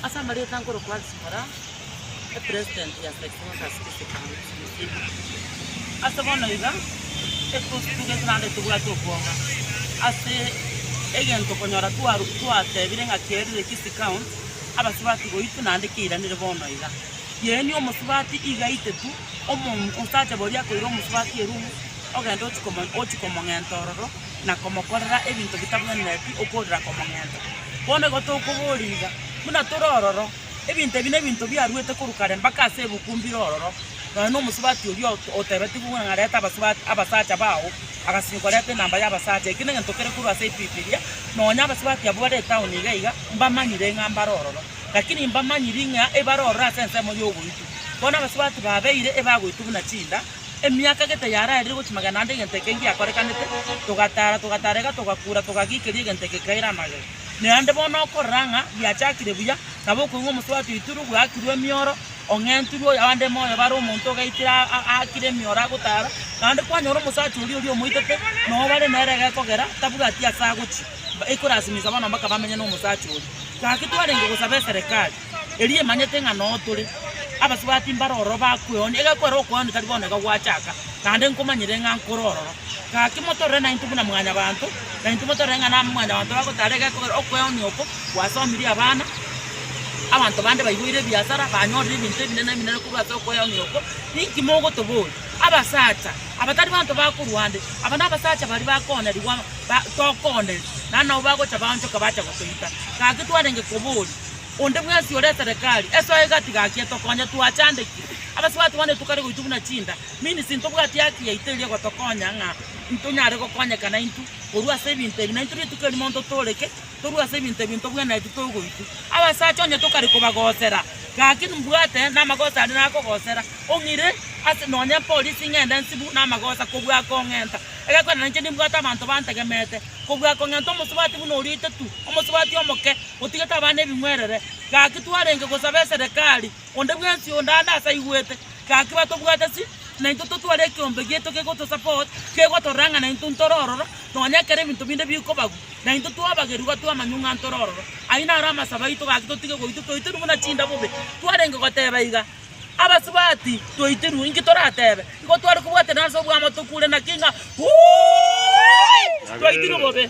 Ase amarieta nkorokwa Zipporah, epresident ya St. Rosas District County, Turkana. Ase bono iga, ekegusii keito gento naende tobwate okwonga ase egento okonyora twaru twatebire ng'a kerire Kisi County, abasubati boito naende keiranire bono iga. Yaani omosubati iga aitetu omo osacha boria akoira omosubati erumu, ogende ochikomo ochikomong'enta ororo, na komokorera ebinto bitabwenereti okorera komong'enta. Bono igo tokoboria iga, buna tore ororo, ebinto ebi nebinto biaruete korwa kare mpaka ase ebuku mbire ororo, nonya nomosubati oria otebetigwe buna reta abasubati abasacha bao, agasinywa koreta enamba y'abasacha. Eki negento kere korwa ase Ebibilia, nonya abasubati abwo bare etaoni iga iga, mbamanyire ng'a mbare ororo. Lakini mbamanyiri ng'a ebare ororo ase ensemo y'ogoitwa. Bono abasubati babeire ebagoitwa buna chinda. Emiaka gete yaraerire gochia magana ande egento eke ngiakorekanete, togataara, togatarega, togakuura, togagikeria egento eke kaire amagega. Naende bono okorora ng'a giachakire buya, nabo okoigwa omosubati oitirwe, bwakirwe emioro, ong'entirwe, abande moyo bare omonto ogaitire a- a- aakire emioro agotaara, naende kwanyora omosacha oria oria omoitete noo bare nere egekogera tabwati ase agochia, ba- ekorasimisa bono mpaka bamenye nomosacha oria. Gaki twarenge gosaba eserekari. eria emanyete ng'a noo tore abasubati mbare ororo bakweonia, egekwera okweonia tari bono iga gwachaka, naende nkomanyire ng'a nkore ororo. Gaki motorore naintwe buna mwanyabanto, naintwe motorore ng'a na mwanyabanto bagotara egekogera okweonia oko gwasomirie abana, abanto bande baiboire ebiasara, banyorire ebinto ebinene ebinene korwa ase okweonia oko, ninki mogotoboria? Abasacha aba tari banto bakorwa nde, aba nabasacha baria bakonya ribaga ba tokoonetie, naende nabo bagocha baonchoka bacha gotoita. Gaki twarenge koboria. Onde bwensi ore eterekari, esoe gati gaki etokonye. Twachandekire abasubati bane tokare goitwa buna chinda, means ntobwati haki yaito eria egotokonya ng'a ntonyare gokonyekana intwe korwa ase ebinto ebi. Na intwe rituko eri monto tore ki? Torue ase ebinto ebi ntobwenereti togoitwa. Abasacha onye tokare kobagosera gaki mbwate namagosa aria nakogosera, ong'ire ase nonye epolisi ng'ende nsibu namagosa kobua kong'enta. Egekwena nainche nimbwate abanto bantegemete kobua kong'enta omosubati buna oria oito tu, omosubati omoke Gotiga tabana ebing'werere. Gaki twarenge gosaba eserekari, onde bwensi onde aane ase aigwete, gaki batobwate ase naintwe totware ekeombe giaito gegotosupport, gegotorang'ana intwe ntore ororo, nonya ekero ebinto binde bikobagwa, naintwe twabagerigwa twe amanyu ng'a ntore ororo. Ayio naro amasabo aito gaki totige goitwa toitirwe buna chinda bobe. Twarenge goteba iga, Abasubati toitirwe, inki toratebe? Igo tware kobwaterana ase obwamo tokure naki ng'a, Woooi! Toitirwe bobe.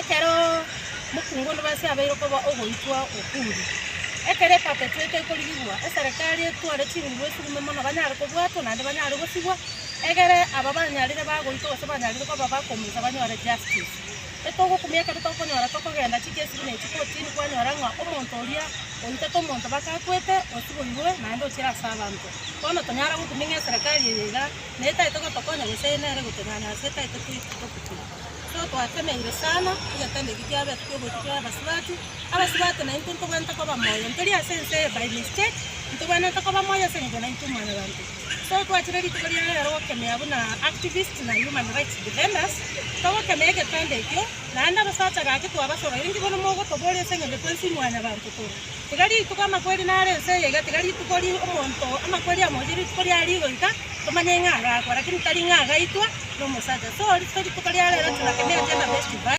Ekero mokungu Onibasi abeire okoba ogoitwa Ukuru, ekero epatetwe eke ekorigigwa, eserekari etware chinguru esugume mono banyare kobwatwa naende banyare gosigwa, egere aba banyarire bagoitwa gose banyarire koba bakomusa banyore justice. Etogokumia ekero tokonyora tokogenda chikesire na chikotini kwanyora ng'a omonto oria oitete omonto bakakwete osiboirwe naende ochire ase abanto. Bono tonyare gokumia ng'a eserekari eye iga netaete gotokonya gose nere gotonyanyasa etaete toigwe. Ekero twateneire sana, egetanda erio kiabetwe oborio bw'abasubati, abasubati naintwe ntobwenerete koba moyo, ntori ase ense eye by mistake, ntobwenerete koba moyo ase eng'encho naintwe mwanyabanto. So twachire rituko ria rero gokemea buna activists na human rights defenders, togokemea egetanda ekio, naende abasacha gaki twabasobeire, inki bono mogotoboria ase eng'encho twensi mwanyabanto tore? Tiga rituko amakweri nare ense eye iga, tiga rituko ri omonto amakweri amo oye rituko ria rigo iga, tomanye ng'a agakwa, lakini tari ng'a agaitwa nomosacha. So rituko ria rero Churaki neoche na Besti Bye.